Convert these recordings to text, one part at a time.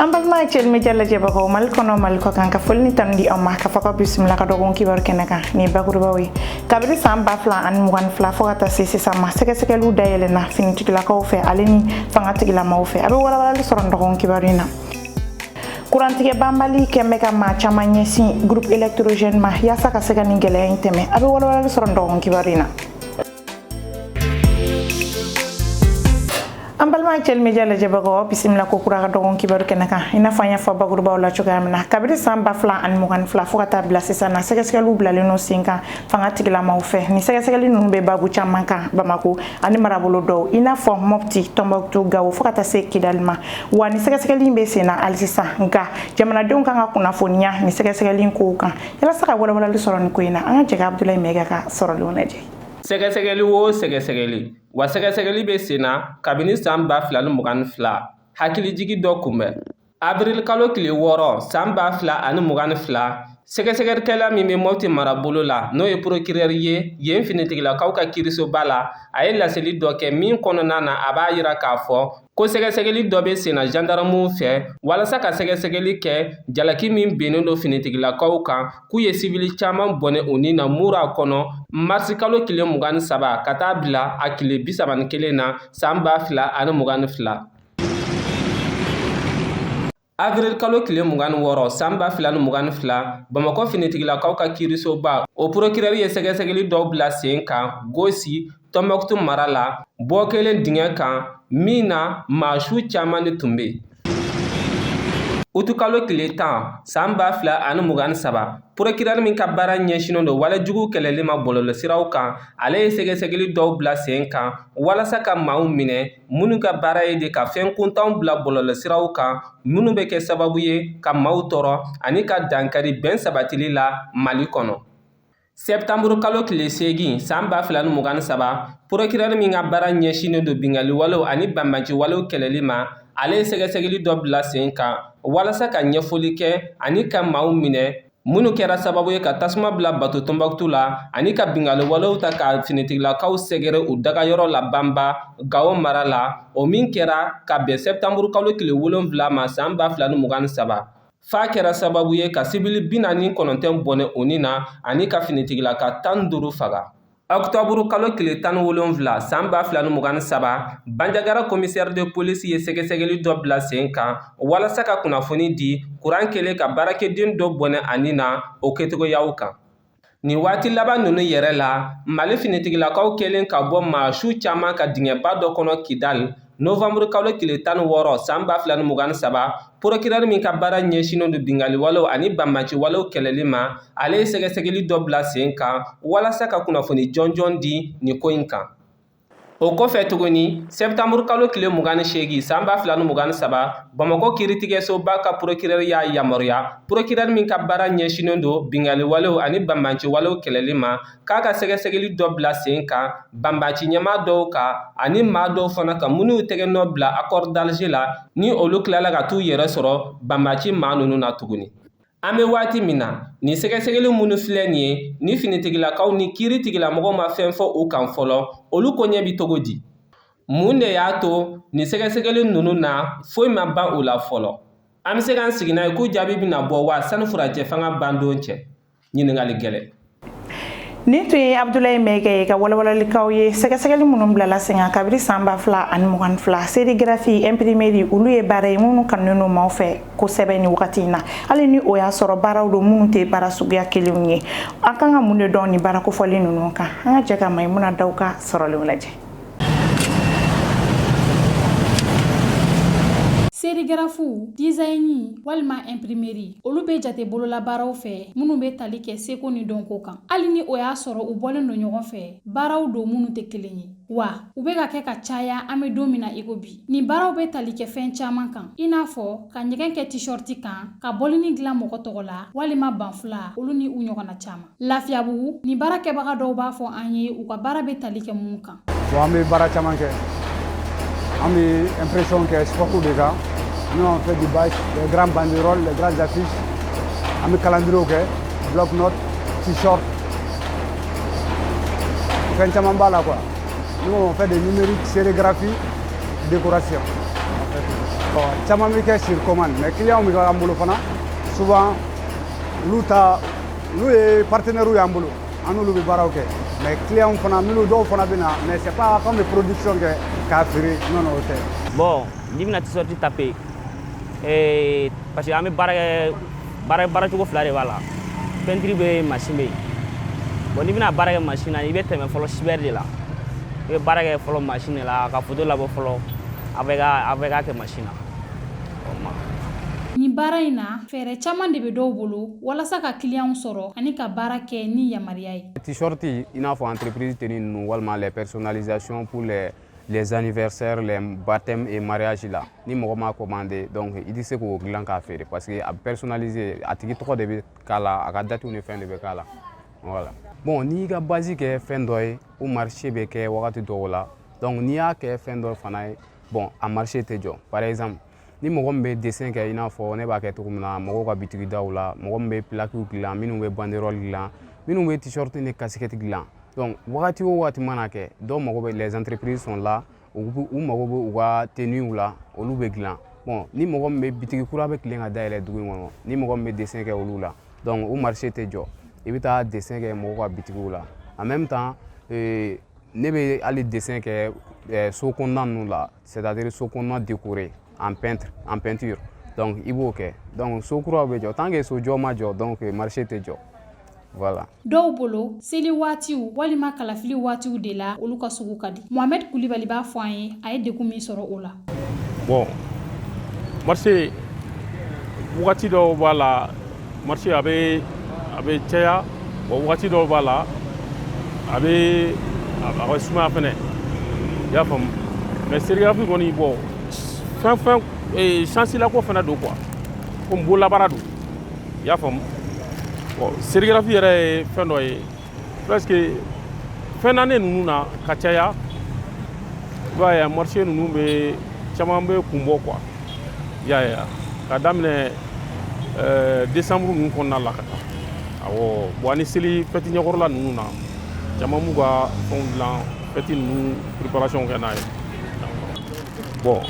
an balima cɛlime ja lajɛbagaw mali kɔnɔ mali kɔ kan ka foli ni tanu di aw ma k'aw fo k'aw bisimila ka dɔgɔkun kibaru kɛnɛ kan ni bakurubaw ye kabiri saan ba fila ani mugan ni fila fɔɔ ka taa se sisan ma sɛgɛsɛgɛliw dayɛlɛna finitigilakaw fɛ ale ni fanga tigilamaw fɛ a be walawalali sɔrɔ ni dɔgɔkun kibaru in na kurantigɛ banbali kɛn bɛ ka maa caaman ɲɛsin groupe électrogène ma yaasa ka se ka nin gwɛlɛya in tɛmɛ a be walawalali sɔrɔ ni dɔgɔkun kibaru in na an balima cɛlimɛ ja lajɛbagaw bisimila ko kura ka dɔgɔkun kibaru kɛnɛ kan i n'a fɔ an y'a fɔ bakurubaw la cogoya min na kabiri san ba fila ani mugani fila fɔɔ ka taa bila sisan na sɛgɛsɛgɛliw bilalen no sen kan fanga tigilamaw fɛ ni sɛgɛsɛgɛli nunu be baabu caaman kan bamako ani marabolo dɔw i n'a fɔ mɔpti tɔnbɔkutu gawo fɔɔ ka taa se kidali ma wa ni sɛgɛsɛgɛli be sen na alisisan nka jamanadenw kan ka kunnafoniya ni sɛgɛsɛgɛli kow kan yalasa ka walawalali sɔrɔ ni ko in na an ka jɛ ka abudulayi mɛga ka sɔrɔlenw lajɛ sɛgɛsɛgɛli o sɛgɛsɛgɛli wa sɛgɛsɛgɛli bɛ sen na kabini san 2022 hakilijigi dɔ kunbɛn avril kalo tile wɔɔrɔ san 2022 sɛgɛsɛgɛlikɛla min bɛ mɔti marabolo la n'o ye porokirɛri ye yen finitigilakaw ka kiirisoba la a ye laseli dɔ kɛ min kɔnɔna na a b'a yira k'a fɔ ko sɛgɛsɛgɛli dɔ bɛ senna jandaramuw fɛ walasa ka sɛgɛsɛgɛli kɛ jalaki min bennen don finitigilakaw kan k'u ye sibili caman bɔnɛ u ni na mura kɔnɔ marisi kalo tile mugan ni saba ka taa bila a tile bi saba ni kelen na saan ba fila ani mugan ni fila Avril kalo tile mugan ni wɔɔrɔ san ba fila ni mugan ni fila bamakɔ finitigilakaw ka kiirisoba o porokirɛri ye sɛgɛsɛgɛli dɔw bila sen kan gosi tɔnbɔkutu mara la bɔ kɛlen dingɛ kan min na maa su caman de tun bɛ utukalo tile tan san ba fila ani mugan ni saba porokirɛri min ka baara ɲɛsinnen don walejugu kɛlɛli ma bɔlɔlɔsiraw kan ale ye sɛgɛsɛgɛli dɔw bila sen kan walasa ka maaw minɛ minnu ka baara ye de ka fɛn kuntanw bila bɔlɔlɔsiraw kan minnu bɛ kɛ sababu ye ka maaw tɔɔrɔ ani ka dankari bɛn sabatili la mali kɔnɔ sɛptanburu kalo tile seegin saan ba fila ni mugan ni saba porokirɛri min ka baara ɲɛsinnen don bingaliwalew ani banbaanciwalew kɛlɛli ma ale ye sɛgɛsɛgɛli dɔ bila sen kan walasa ka ɲɛfɔli kɛ ani ka maaw minɛ minnu kɛra sababu ye ka tasuma bila bato tɔnbɔkutu la ani ka bingaliwalew ta ka finitigilakaw sɛgɛrɛ u dagayɔrɔ la banba gawo mara la o min kɛra ka bɛn sɛptanburu kalo tile wolonfila ma saan ba fila ni mugan ni saba f'a kɛra sababu ye ka sibili bi naani ni kɔnɔntɔn bɔnɛ u ni na ani ka finitigilaka tan ni duuru faga Ɔkutɔburu kalo tile tan ni wolonwula san ba fila ni mugan ni saba banjagara commissaire de police ye sɛgɛsɛgɛli dɔ bila sen kan walasa ka kunnafoni di kuran kɛlen ka baarakɛden dɔ bɔnɛ a ni na o kɛcogoyaw kan nin waati laban ninnu yɛrɛ la mali finitigilakaw kɛlen ka bɔ maa su caman kan dingɛba dɔ kɔnɔ kidali Nowanburu kalo tile tan ni wɔɔrɔ san ba fila ni mugan ni saba porokirɛri min ka baara ɲɛsinnen don binkaliwalew ani banbanciwalew kɛlɛli ma ale ye sɛgɛsɛgɛli dɔ bila sen kan walasa ka kunnafoni jɔnjɔn di nin ko in kan o kɔfɛ tuguni sɛbitanburu kalo tile mugan ni seegin san ba fila ni mugan ni saba bamakɔ kiiritigɛsoba ka porokirɛri y'a yamaruya porokirɛri min ka baara ɲɛsinnen don binkaliwalew ani banbanciwalew kɛlɛli ma k'a ka sɛgɛsɛgɛli dɔ bila sen kan banbanci ɲɛmaa dɔw kan ani maa dɔw fana kan minnu tɛgɛ nɔ bila accord d'Alger la ni olu tilala ka t'u yɛrɛ sɔrɔ banbanci maa ninnu na tuguni an bɛ waati min na nin sɛgɛsɛgɛli minnu filɛ nin ye ni finitigilakaw ni kiiritigɛlamɔgɔw ma fɛn fɔ u kan fɔlɔ olu koɲɛ bi cogo di mun de y'a to nin sɛgɛsɛgɛli ninnu na foyi ma ban u la fɔlɔ an bɛ se k'an sigi n'a ye k'u jaabi bɛna bɔ wa sani furancɛ fanga ban don cɛ ɲininkali gɛlɛn nin tun ye abudulayi mɛkɛ ye ka walawalalikanw ye sɛgɛsɛgɛli minnu bilala sen kan kabiri san ba fila ani mugan ni fila serigarafi ɛnpirimeri olu ye baara ye minnu kanunen don maaw fɛ kosɛbɛ nin wagati in na hali ni o y'a sɔrɔ baaraw don minnu tɛ baara suguya kelenw ye an kan ka mun de dɔn nin baara kofɔlen ninnu kan an ka jɛ ka mayimuna daw ka sɔrɔlenw lajɛ serigarafu dizayini walima ɛnpirimeri olu bɛ jate bololabaaraw fɛ minnu bɛ tali kɛ seko ni dɔnko kan hali ni o y'a sɔrɔ u bɔlen don ɲɔgɔn fɛ baaraw don minnu tɛ kelen ye wa u bɛ ka kɛ ka caya an bɛ don min na iko bi nin baaraw bɛ tali kɛ fɛn caman kan i n'a fɔ ka ɲɛgɛn kɛ tishɔriti kan ka bɔlini dilan mɔgɔ tɔgɔ la walima banfula olu ni u ɲɔgɔnna caman Lafiyabugu nin baarakɛbaga dɔw b'a fɔ an ye u ka baara bɛ tali kɛ mun kan bon an bɛ baara caman kɛ an bɛ impression kɛ support de kan nous on fait du bâche les grands banderoles les grandes affiches an bɛ kalandiriw kɛ bloc note t-shirt fɛn caman b'a la quoi nous on fait des numériques sérigraphie décoration bon caman bɛ kɛ sur commande mais clients bɛ k'an bolo fana souvent olu ta n'u ye partenaires y'an bolo an n'olu bɛ baaraw kɛ mais clients fana minnu dɔw fana bɛ na mais c'est pas k'an bɛ production kɛ k'a feere non non o tɛ. bon n'i bɛna t-shirt taper ee eh, parce que an bɛ baara kɛ baara baara cogo fila de b'a la peinture bɛ mansin bɛ yen bon n'i bɛna baara kɛ mansin na i bɛ tɛmɛ fɔlɔ cyber de la i bɛ baara kɛ fɔlɔ mansin de la ka photo labɔ fɔlɔ a bɛ ka a bɛ ka kɛ mansin na. nin baara in na fɛɛrɛ caman de bɛ dɔw bolo walasa ka kiliyanw sɔrɔ ani ka baara kɛ ni yamaruya ye tishɔriti i n'a fɔ entreprise teni ninnu walima les personnalisations pour les les anniversaires les baptêmes et mariage la ni mɔgɔ m'a commandé donc i tɛ se k'o dilan k'a feere parce que a bɛ personnaliser a tigi tɔgɔ de bɛ k'a la a ka datiw ni fɛn de bɛ k'a la voilà bon n'i y'i ka base kɛ fɛn dɔ ye o marché bɛ kɛ wagati dɔw la donc n'i y'a kɛ fɛn dɔ fana ye bon a marché tɛ jɔ par exemple ni mɔgɔ min bɛ desen kɛ i n'a fɔ ne b'a kɛ cogo min na mɔgɔw ka bitigi daw la mɔgɔ min bɛ pilakiw dilan minnu bɛ banderɔli dilan minnu bɛ tisɔriti ni kasikɛti dilan donc wagati o wagati mana kɛ dɔw mago bɛ les entreprises sont là u mago bɛ u ka teniw la olu bɛ dilan bon ni mɔgɔ min bɛ bitigi kura bɛ tilen ka dayɛlɛ dugu in kɔnɔ ni mɔgɔ min bɛ desen kɛ olu la donc o marché tɛ jɔ i bɛ taa desen kɛ mɔgɔw ka bitigiw la en même temps euh, ne bɛ hali desen kɛ euh, so kɔnɔna ninnu la c'est à dire so kɔnɔna décoré en peintre en peinture donc i b'o kɛ donc so kuraw bɛ jɔ tant que so jɔ ma jɔ donc marché tɛ jɔ Voilà. dɔw bolo seli waatiw walima kalafili waatiw de la olu ka sugu ka di mohamɛd kulibali b'a fɔ an ye a ye degun min sɔrɔ o la bon marché wagati dɔw b'a la marché a bɛ a bɛ caya bon wagati dɔw b'a la a bɛ a bɛ sumaya fana i y'a faamu mais serigarafi kɔni bon fɛn fɛn eh, chance la ko fana don quoi comme bololabaara don i y'a faamu bon serigarafi yɛrɛ ye fɛn dɔ ye parce que fin d'année ninnu na ka caya i b'a ye a marché ninnu bɛ caman bɛ kun bɔ quoi i y'a ye a ka daminɛ ɛɛ décembre ninnu kɔnɔna la ka taa awɔ bon ani seli fɛti ɲɛkɔrɔla ninnu na caman b'u ka fɛnw dilan fɛti ninnu préparation kɛ n'a ye bon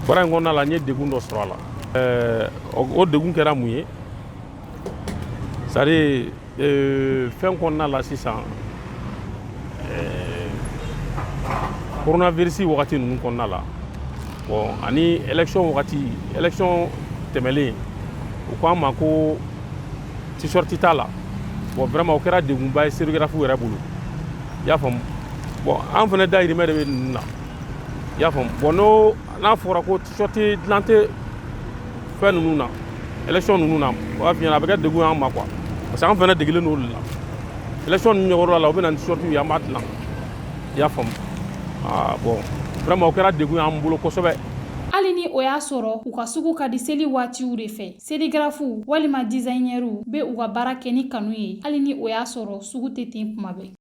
baara in kɔnɔna la n ye degun dɔ sɔrɔ a la ɛɛ o degun kɛra mun ye c'est à dire euh, fɛn kɔnɔna la sisan euh, coronavirus wagati ninnu kɔnɔna la bon ani élection wagati élection tɛmɛlen u ko an ma ko t-shirt t'a la bon vraiment o kɛra degunba ye serigarafu yɛrɛ bolo i y'a faamu bon an fana dayirimɛ de bɛ ninnu na i y'a faamu bon n'o n'a fɔra ko Sɔti dilan tɛ fɛn ninnu na élection ninnu na o b'a f'i ɲɛna a bɛ kɛ degun y'an ma quoi parce que an fana degelen don olu la élection ninnu ɲɛkɔrɔla la u bɛ na ni t-shirtw ye an b'a dilan i y'a faamu aa bon vraiment o kɛra degun y'an bolo kosɛbɛ hali ni o y'a sɔrɔ u ka sugu ka di seli waatiw de fɛ serigarafuw walima dizayinɛriw bɛ u ka baara kɛ ni kanu ye hali ni o y'a sɔrɔ sugu tɛ ten kuma bɛɛ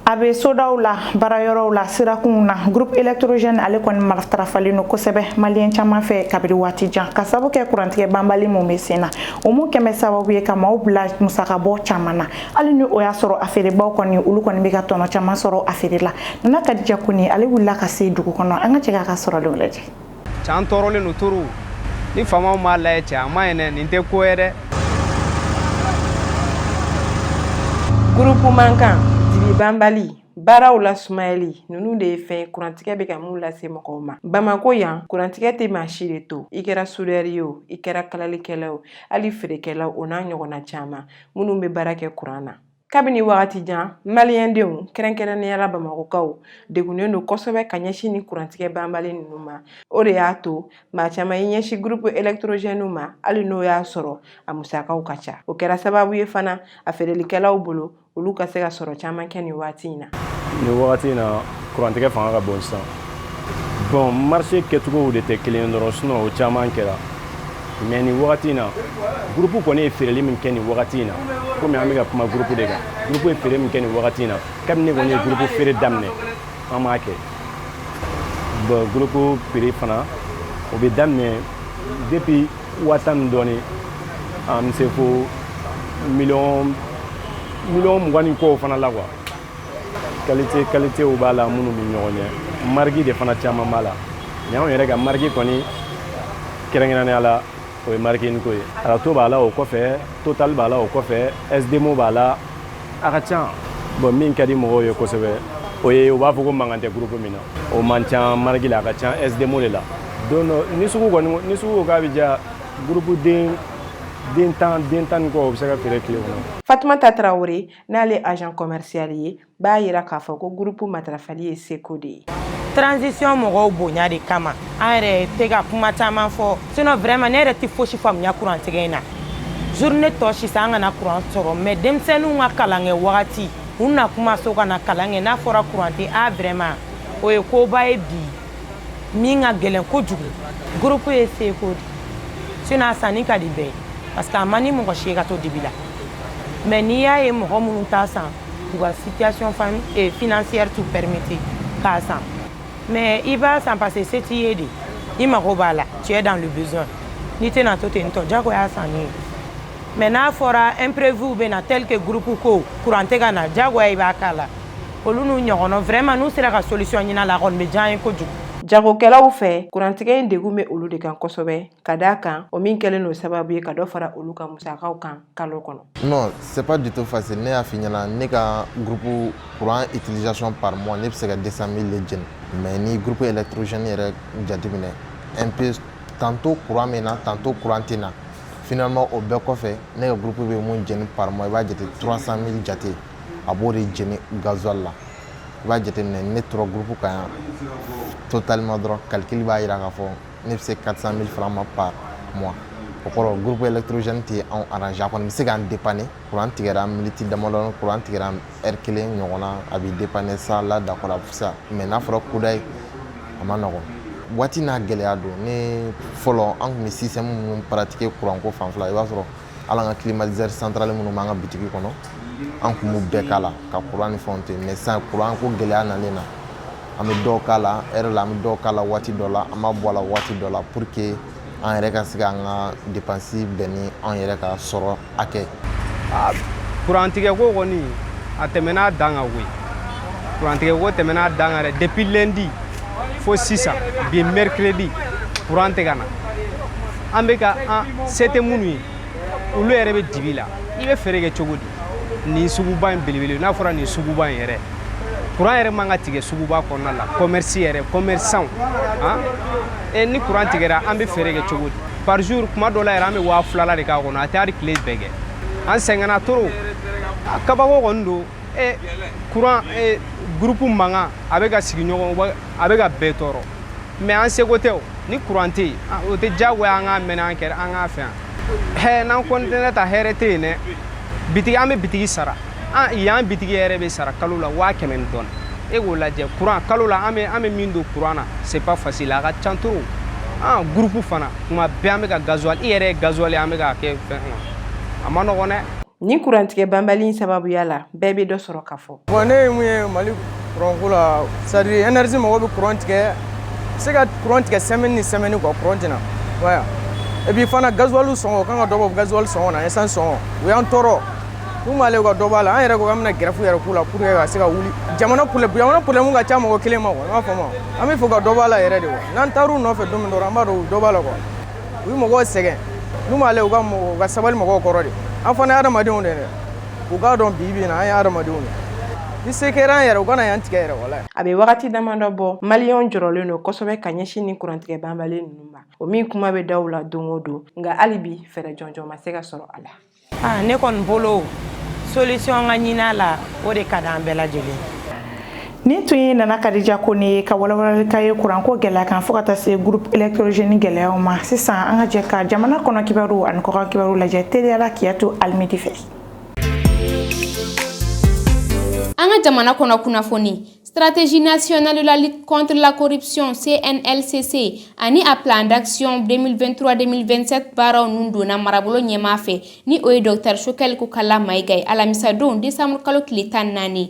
a bɛ sodaw la baarayɔrɔw la sirakunw na groupe électrogène ale kɔni matarafalen don kosɛbɛ maliyɛn caman fɛ kabiri waati jan ka sabu kɛ kurantigɛ banbali min bɛ sen na o min kɛlen bɛ sababu ye ka maaw bila musakabɔ caman na hali ni o y'a sɔrɔ a feerebaw kɔni olu kɔni bɛ ka tɔnɔ caman sɔrɔ a feere la nana kadija kone ale wulila ka se dugu kɔnɔ an ka jɛ k'a ka sɔrɔlenw lajɛ cɛ an tɔɔrɔlen don toro ni faamaw m'a lajɛ cɛ a man ɲi dɛ nin tɛ ko ye dɛ gurupu mankan dibibanbali baaraw la sumayali ninnu de ye fɛn kurantigɛ bɛ ka min lase mɔgɔw ma bamako yan kurantigɛ tɛ maa si de to i kɛra sudɛri ye o i kɛra kalalikɛla o hali feerekɛlaw o n'a ɲɔgɔnna caman minnu bɛ baara kɛ kuran na kabini wagati jan maliyɛndenw kɛrɛnkɛrɛnnenya la bamakokaw degunnen don kosɛbɛ ka ɲɛsin nin kurantigɛ banbali ninnu ma o de y'a to maa caman y'i ɲɛsin gurupu elegɛtorozɛninw ma hali n'o y'a sɔrɔ a musakaw ka ca o kɛra sababu ye fana a feerelikɛlaw bolo olu ka se ka sɔrɔ caman kɛ nin waati in na nin waati in na kurantigɛ fanga ka bon sisan bɔn marise kɛcogow de tɛ kelen ye dɔrɔn sinɔn o caman kɛra mɛ nin wagati in na gurupu kɔni ye feereli min kɛ nin wagati in na komi an bɛ ka kuma gurupu de kan gurupu ye feere min kɛ nin wagati in na kabini ne kɔni ye gurupu feere daminɛ an m'a kɛ bɔn gurupu feere fana o bɛ daminɛ depuis waa tan ni dɔɔni an bɛ se fo miliyɔn mugan ni kɔw fana la kuwa kalite kalitew b'a la minnu bɛ ɲɔgɔn ɲɛ marigi de fana caman b'a la mɛ anw yɛrɛ ka marigi kɔni kɛrɛnkɛrɛnnenya la o ye marigi ingco ye rato b'a la o kɔfɛ total b'a la o kɔfɛ sdmo b'a la a ka ca bɔn min ka di mɔgɔw ye kosɛbɛ o ye u b'a fɔ ko mankan tɛ gurupu min na o man ca marigi la a ka ca sdmo de la don dɔ ni sugu kɔni ni sugu ko k'a bɛ diya gurupu den tan den tan ni kɔ o bɛ se ka feere tile kɔnɔ fatumata tarawele n'ale ye agent commercial ye b'a yira k'a fɔ ko groupe matarafali ye seko de ye transition mɔgɔw bonya de kama an yɛrɛ tɛ ka kuma caman fɔ sinon vraiment ne yɛrɛ tɛ fosi faamuya kurantigɛ in na journée to sisan an kana kuran sɔrɔ mais denmisɛnninw ka kalan kɛ wagati u na kuma so ka na kalan kɛ n'a fɔra kuran tɛ a vraiment o ye koba ye bi min ka gɛlɛn kojugu groupe ye seko de sinon a sanni ka di bɛɛ ye parce que a man di mɔgɔ si ye ka to dibi la mais n'i y'a ye mɔgɔ minnu t'a san u ka situation eh, financière t'u permettre k'a san mais i b'a san parce que se t'i ye de i mago b'a la tu es dans le besoin n'i tɛna to ten tɔ jagoya sanni ye mais n'a fɔra imprévu bɛ na tel que groupe ko courant tɛ ka na jagoya i b'a k'a la olu n'u ɲɔgɔnna vraiment n'u sera ka solution ɲinin a la a kɔni bɛ diya ye kojugu jagokɛlaw fɛ kurantigɛ in degun bɛ olu de kan kosɛbɛ ka d'a kan o min kɛlen don sababu ye ka dɔ fara olu ka musakaw kan kalo kɔnɔ non c'est pas du tout facile ne y'a f'i ɲɛna ne ka groupe courant utilisation par mois ne bɛ se ka 200 000 le jeni mais ni groupe électrogène yɛrɛ jateminɛ un peu tantôt courant bɛ na tantôt courant tɛ na finalement o bɛɛ kɔfɛ ne ka groupe bɛ mun jeni par mois i b'a jate 300 000 jate a b'o de jeni gasoil la i b'a jateminɛ ne tora groupe kan yan totalement dɔrɔn calcul b'a yira k'a fɔ ne bɛ se 400 000 francs ma par mois o kɔrɔ groupe électrogène tɛ anw arranger a kɔni bɛ se k'an dépanner kuran tigɛra miniti damadɔni kuran tigɛra heure kelen ɲɔgɔn na a bɛ dépanner ça là d'accord a bɛ fisa mais n'a fɔra kudayi a ma nɔgɔn waati n'a gɛlɛya don ne fɔlɔ an tun bɛ système minnu pratiquer kuranko fanfɛla i b'a sɔrɔ hali an ka climatiseur central minnu b'an ka bitigi kɔnɔ an tun b'u bɛɛ k'a la ka kuran ni fɛnw ten mais sisan kuran ko gɛlɛya nalen na an bɛ dɔw k'a la heure la an bɛ dɔw k'a la waati dɔ la an b'a bɔ a la waati dɔ la pour que an yɛrɛ ka se k'an ka dépense bɛn ni an yɛrɛ ka sɔrɔ hakɛ kurantigɛ ko kɔni a tɛmɛn'a dan kan koyi kurantigɛ ko tɛmɛn'a dan kan dɛ depuis lundi fo sisan bi mercredi kuran tɛ ka na an bɛ ka an se tɛ minnu ye olu yɛrɛ bɛ dibi la i bɛ feere kɛ cogo di nin suguba in belebele n'a fɔra nin suguba in yɛrɛ kuran yɛrɛ man ka tigɛ suguba kɔnɔna la commerce yɛrɛ commerçant han e ni kuran tigɛra an bɛ feere kɛ cogo di par jour kuma dɔ la yɛrɛ an bɛ waa filala de k'a kɔnɔ a tɛ hali tile bɛɛ kɛ an sɛgɛnna trop a kabako kɔni don e kuran e groupe mankan a bɛ ka sigiɲɔgɔn a bɛ ka bɛɛ tɔɔrɔ mais an seko tɛ o ni kuran tɛ yen o tɛ diyagoya an k'a mɛn an kɛra an k'a fɛ yan hɛ n'an continuer tan hɛrɛ tɛ yen dɛ bitigi an bɛ bitigi sara yan bitigi yɛrɛ bɛ sara kalo la waa kɛmɛ ni dɔɔni e k'o lajɛ kuran kalo la an bɛ an bɛ min don kuran na c'est pas facile a ka can trop an groupe fana tuma bɛɛ an bɛ ka gasoil i yɛrɛ ye gasoil ye an bɛ k'a kɛ fɛn kɔnɔ a ma nɔgɔn dɛ nin kurantigɛ banbali in sababuya la bɛɛ bɛ dɔ sɔrɔ ka fɔ Bon ne ye mun ye Mali courant ko la c'est à dire énergie mɔgɔw bɛ courant tigɛ se ka courant tigɛ semaine ni semaine quoi courant tɛ na voilà et puis fana gasoil sɔngɔ kan ka dɔ bɔ gasoil sɔngɔ na essence sɔngɔ u y'an tɔɔrɔ mun b'ale ka dɔ b'a la an yɛrɛ ko k'an bɛna grève yɛrɛ k'u la pour que ka se ka wuli jamana problème jamana problème ka ca mɔgɔ kelen ma quoi i m'a faamu an b'a fɛ ka dɔ b'a la yɛrɛ de quoi n'an taar'u nɔfɛ don min dɔrɔn an b'a dɔn u dɔ b'a la quoi u bɛ mɔgɔw sɛgɛn mun b'ale u ka mɔgɔ u ka sabali mɔgɔw kɔrɔ de an fana ye adamadenw de ye dɛ u k'a dɔn bi bi in na an ye adamadenw ye ni se kɛra an yɛrɛ u kana yan tigɛ yɛrɛ wala a bɛ wagati damadɔ bɔ maliyɛnw jɔrɔlen don kosɛbɛ ka ɲɛsin nin kurantigɛ banbali ninnu ma o min kuma bɛ daw la don o don nka hali bi fɛɛrɛ jɔnjɔn ma se ka sɔrɔ a la ah, ne kɔni bolo solution ka ɲin'a la o de ka di an bɛɛ lajɛlen Nin tun ye nana kadija Kone ye ka walawalali ka ye kuranko gɛlɛya kan fo ka taa se groupe électrogène gɛlɛyaw ma sisan an ka jɛ ka jamana kɔnɔ kibaru ani kɔkan kibaru lajɛ teliya la Kiyatu Alimidi fɛ an ka jamana kɔnɔ kunnafoni stratégie nationale de la lutte contre la corruption cnlcc ani a plan d'action 2023-2027 baaraw ninnu donna marabolo ɲɛmaa fɛ ni o ye docteur Choguel Kokalla Maïga ye alamisadon desanburukalo tile tan naani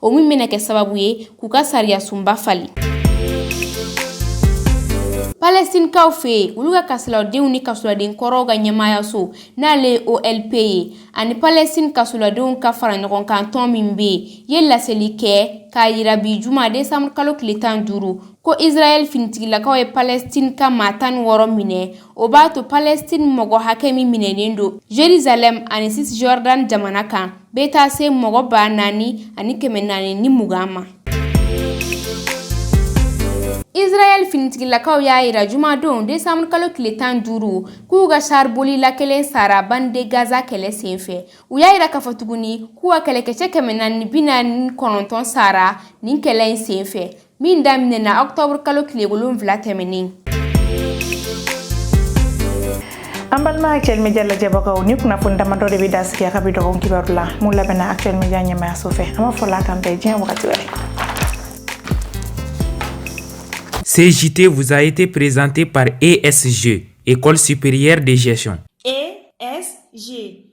o min bɛna kɛ sababu ye k'u ka sariyasunba falen palɛstinikaw fɛ yen olu ka kasoladenw ni kasoladen kɔrɔw ka ɲɛmaayaso n'ale ye olp ye ani palɛstin kasoladenw ka fara ɲɔgɔn kan tɔn min bɛ yen ye laseli kɛ k'a yira bi juma desanburukalo tile tan duuru ko israɛl finitigilakaw ye palɛstin ka maa tan ni wɔɔrɔ minɛ O b'a to palɛstini mɔgɔ hakɛ min minɛnen don Jérusalem ani Cisjordan jamana kan bɛ taa se mɔgɔ ba naani ani kɛmɛ naani ni mugan ma israɛl finitigilakaw y'a yira jumadon desanburukalo tile tan duuru k'u ka char bolila kelen sara bande Gaza kɛlɛ senfɛ u y'a yira k'a fɔ tuguni k'u ka kɛlɛkɛcɛ kɛmɛ naani bi naani kɔnɔntɔn sara nin kɛlɛ in senfɛ min daminɛna octobre kalo tile wolonwula tɛmɛnen an balima actuel media lajɛbagaw nin kunnafoni damadɔ de bɛ dan sigi an ka bi dɔgɔkun kibaru la min labɛnna actuel media ɲɛmaayaso fɛ an b'a fɔ Ala k'an bɛɛ diɲɛ wagati wɛrɛ Ce JT vous a été présenté par ESG, École supérieure de gestion. ESG